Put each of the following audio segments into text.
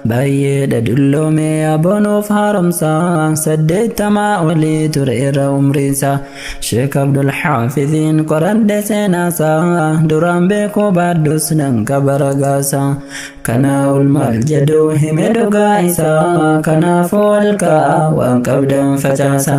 Baay'eedha dulloomee aboo nuuf haaromsa saddeettamaa olii ture irra umriisa Sheek Abdul Haafiziin qoradhe seenaasa duraan beekuu baadhus nan qaba ragaasa kanaa ol maal jedhu hime dhugaa isaa kanaafuu ol ka'a waan qabdan facaasa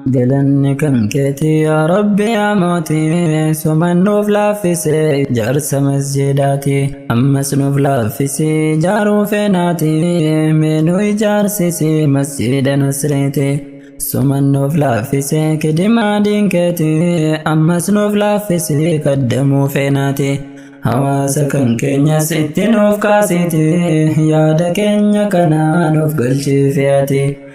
Galanni kan keeti yaa Rabbi yaa mooti suman nuuf laaffise jaarsa masjidaati ammas nuuf laaffisi jaaruu feenaati mee nu ijaarsisi masjida nasreeti suman nuuf laaffise kidimaa diinkeeti ammas nuuf laaffisi kaddamuu feenaati hawaasa kan keenyas itti nuuf kaasiti yaada keenya kanaa nuuf galchiifi ati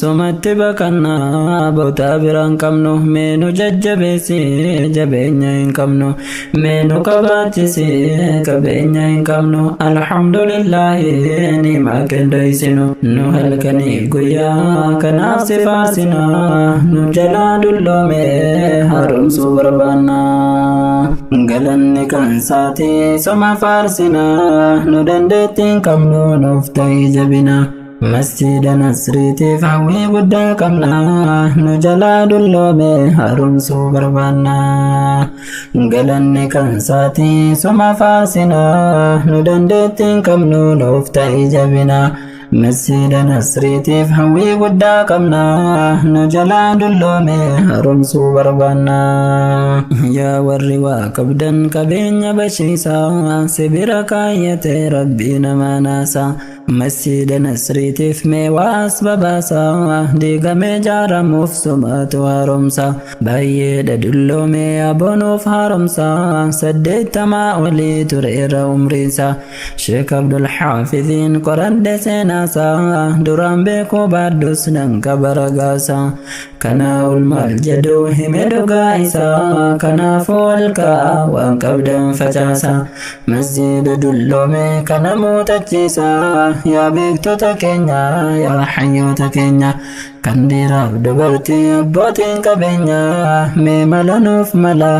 Sumatti baqannaa bootaa biraan qabnu mee nu jajjabeessi jabeenya hin qabnu mee nu qabaachisi qabeenya hin qabnu alhamdulillahi niimaa qindeessinu nu halkanii guyyaa kanaaf si faasina nu jalaa dulloome haaromsuu barbaanna galanni kan saati soma faarsina nu dandeettiin qabnu nuuf ta'ii jabina Masjiida Nasriitiif hawwii guddaa qabna nu jalaa dulloome haaromsuu barbaanna. Galanni kan saati suma faarsina nu dandeettii hin qabnu nuuf ta'i jabina. Masjiida Nasriitiif hawwii guddaa qabna nu jalaa dulloome haaromsuu barbaanna. Yaa warri waa qabdan qabeenya bashiisa sibira kaayyate rabbii namaa naasa. Masjiida Nasriitiif mee waa as babaasa Diigamee jaaramuuf sumaatu haaromsa Baay'eedha dulloomee aboonuuf haaromsa Saddeettamaa olii tureera umriinsa Sheek Abdul Haafiziin qoradhe seenaasa Duraan beekuu baadhus nan qaba ragaasa Kanaa ol maal jedhu hime dhugaa isaa kanaafuu halkaa waan qabdan facaasa masjiida dulloome kana muuxachiisa yaa beektota keenya yaa hayyoota keenya kan dhiiraaf dubartii abbootiin qabeenya mee mala nuuf mala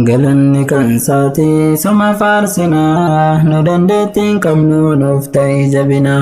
galanni kan saatii suma faarsinaa nu dandeettiin qabnu nuuf ta'ii jabinaa.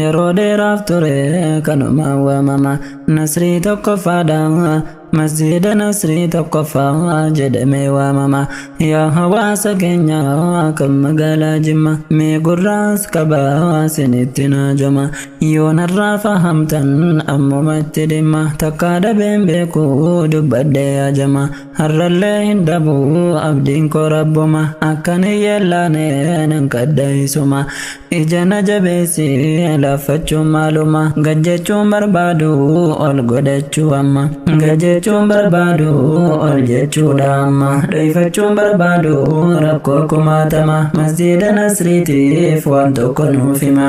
Yeroo dheeraaf ture kanumaan waamama Nasrii tokkoffaadha Masjiida Nasrii tokkoffaa jedhamee waamama Yaa hawaasa keenya kan magaalaa Jimma Mee gurraas qabaa sinitti naajama Yoo narraa fahamtan ammuma itti dhimma Takkaa dhabeen beeku dubbadhee yaa jama Har'allee hin dhabu abdiin koo rabbuma akkan hin yeellaane nan kadha isuma ija na jabeessi laaffachuun maaluma gad jechuun barbaadu ol godhachuu amma gad jechuun barbaadu ol jechuudha amma dhoyfachuun barbaadu rakkoo kumaatama masjiida nasriitiif waan tokko nuuf hima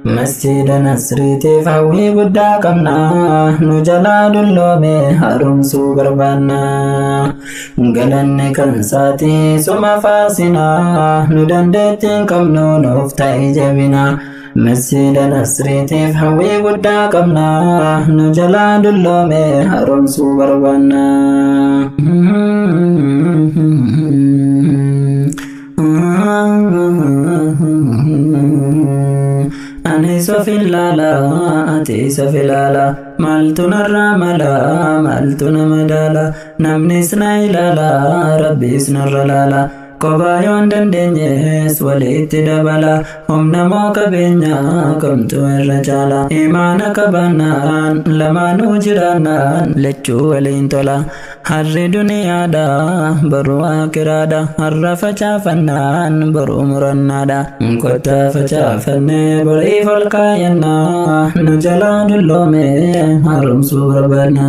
Masjiida Nasriitiif hawwii guddaa qabna, nu jalaa dulloome haaromsuu barbaanna. Galanni kan saati suma faarsina, nu dandeettii hin qabnu nuuf ta'i jabina. Masjiida Nasriitiif hawwii guddaa qabna, nu jalaa dulloome haaromsuu barbaanna. Ani sofin laala ati sofi laala maaltu narraa mala maaltu nama daala namnis na ilaala rabbiis narra laala kophaa yoon dandeenyes walitti dabala humna moo qabeenya kamtu irra caala imaana qabaannaan lamaanuu jiraannaan lachuu waliin tola. Harri duniyaadha boru akiraadha harra facaafannaan boru murannaadha kottaa facaafannee boriif ol kaayannaa nu jalaa dulloome haaromsuu barbaadna.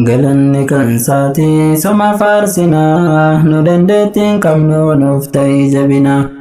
Galanni kan saatii soma faarsinaa nu dandeettiin qabnu nuuf ta'ii jabinaa.